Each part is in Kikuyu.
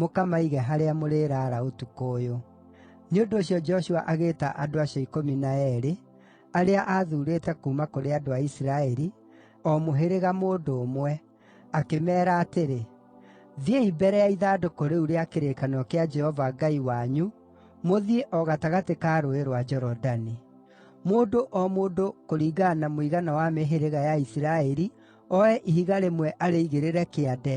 mũkamaige harĩa mũrĩraara ũtukũ ũyũ.” Nĩ ũndũ ũcio Joshua agĩĩta andũ acio ikũmi na eerĩ, arĩa aathuurĩte kuuma kũrĩ andũ a Isiraeli, o mũhĩrĩga mũndũ ũmwe, akĩmeera atĩrĩ, “Thiĩi mbere ya ithandũkũ rĩu rĩa kĩrĩkanĩro kĩa Jehova Ngai wanyu mũthiĩ o gatagatĩ ka Rũũĩ rwa Jorodani. Mũndũ o mũndũ kũringana na mũigana wa mĩhĩrĩga ya Isiraeli oe ihiga rĩmwe arĩigĩrĩre kĩande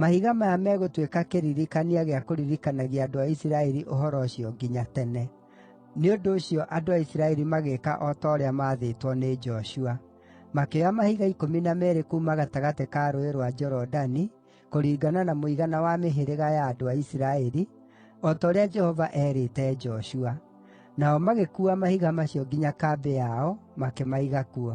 Mahiga maya megũtuĩka kĩririkania gĩa kũririkanagia andũ a Isiraeli ũhoro ũcio nginya tene.” Nĩ ũndũ ũcio andũ a Isiraeli magĩĩka o ta ũrĩa maathĩtwo nĩ Joshua. Makĩoya mahiga ikũmi na meerĩ kuuma gatagatĩ ka Rũũĩ rwa Jorodani, kũringana na mũigana wa mĩhĩrĩga ya andũ a Isiraeli, o ta ũrĩa Jehova eerĩte Joshua. Nao magĩkuua mahiga macio nginya kambĩ yao, makĩmaiga kuo.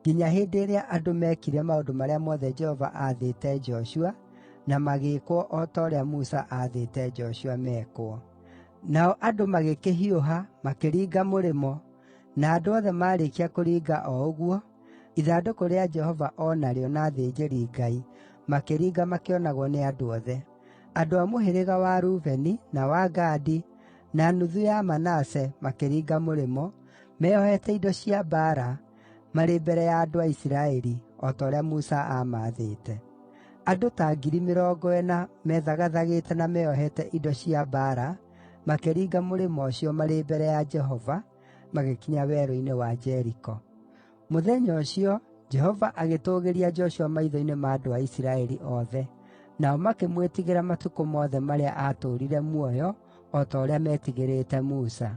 nginya hĩndĩ ĩrĩa andũ meekire maũndũ marĩa mothe Jehova aathĩte Joshua, na magĩĩkwo o ta ũrĩa Musa aathĩte Joshua mekwo. Nao andũ magĩkĩhiũha, makĩringa mũrĩmo, na andũ othe maarĩkia kũringa o ũguo, ithandũkũ rĩa Jehova o narĩo na athĩnjĩri-Ngai makĩringa makĩonagwo nĩ andũ othe. Andũ a mũhĩrĩga wa Rubeni, na wa Gadi, na nuthu ya Manase makĩringa mũrĩmo, meeohete indo cia mbaara, marĩ mbere ya andũ a Isiraeli, o ta ũrĩa Musa aamaathĩte. Andũ ta ngiri mĩrongo ĩna meethagathagĩte na meeohete indo cia mbaara makĩringa mũrĩmo ũcio marĩ mbere ya Jehova, magĩkinya werũ-inĩ wa Jeriko. Mũthenya ũcio, Jehova agĩtũũgĩria Joshua maitho-inĩ ma andũ a Isiraeli othe, nao makĩmwĩtigĩra matukũ mothe marĩa aatũũrire muoyo, o ta ũrĩa meetigĩrĩte Musa.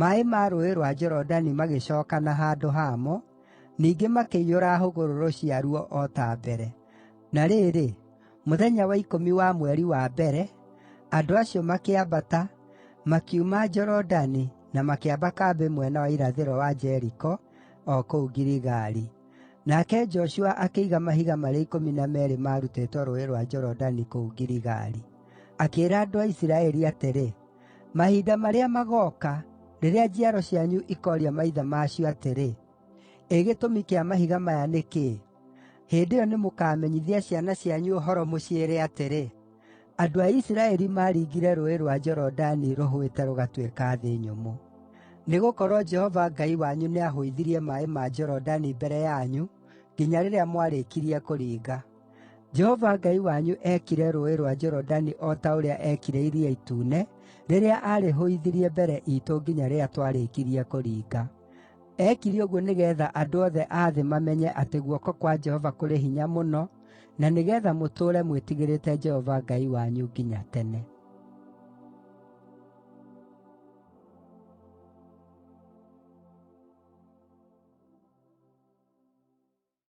Maaĩ ma Rũũĩ rwa Jorodani magĩcookana handũ hamo, ningĩ makĩiyũra hũgũrũrũ ciaruo o ta mbere. Na rĩrĩ, mũthenya wa ikũmi wa mweri wa mbere, andũ acio makĩambata, makiuma Jorodani na makĩamba kambĩ mwena wa irathĩro wa Jeriko, o kũu Giligali. Nake Joshua akĩiga mahiga marĩa ikũmi na meerĩ maarutĩtwo Rũũĩ rwa Jorodani kũu Giligali. Akĩĩra andũ a Isiraeli atĩrĩ, “Mahinda marĩa magooka, rĩrĩa njiaro cianyu ikooria maithe ma cio atĩrĩ, ‘Ĩ gĩtũmi kĩa mahiga maya nĩ kĩĩ?’ Hĩndĩ ĩyo nĩmũkamenyithia ciana cianyu ũhoro mũciĩre atĩrĩ, ‘Andũ a Isiraeli maaringire Rũũĩ rwa Jorodani rũhũĩte rũgatuĩka thĩ nyũmũ.’ Nĩgũkorwo Jehova Ngai wanyu nĩahũithirie maaĩ ma Jorodani mbere yanyu nginya rĩrĩa mwarĩkirie kũringa. Jehova Ngai wanyu eekire Rũũĩ rwa Jorodani o ta ũrĩa eekire Iria Itune, rĩrĩa aarĩhũithirie mbere iitũ nginya rĩrĩa twarĩkirie kũringa. Eekire ũguo nĩgeetha andũ othe a thĩ mamenye atĩ guoko kwa Jehova kũrĩ hinya mũno, na nĩgeetha mũtũũre mwĩtigĩrĩte Jehova Ngai wanyu nginya tene.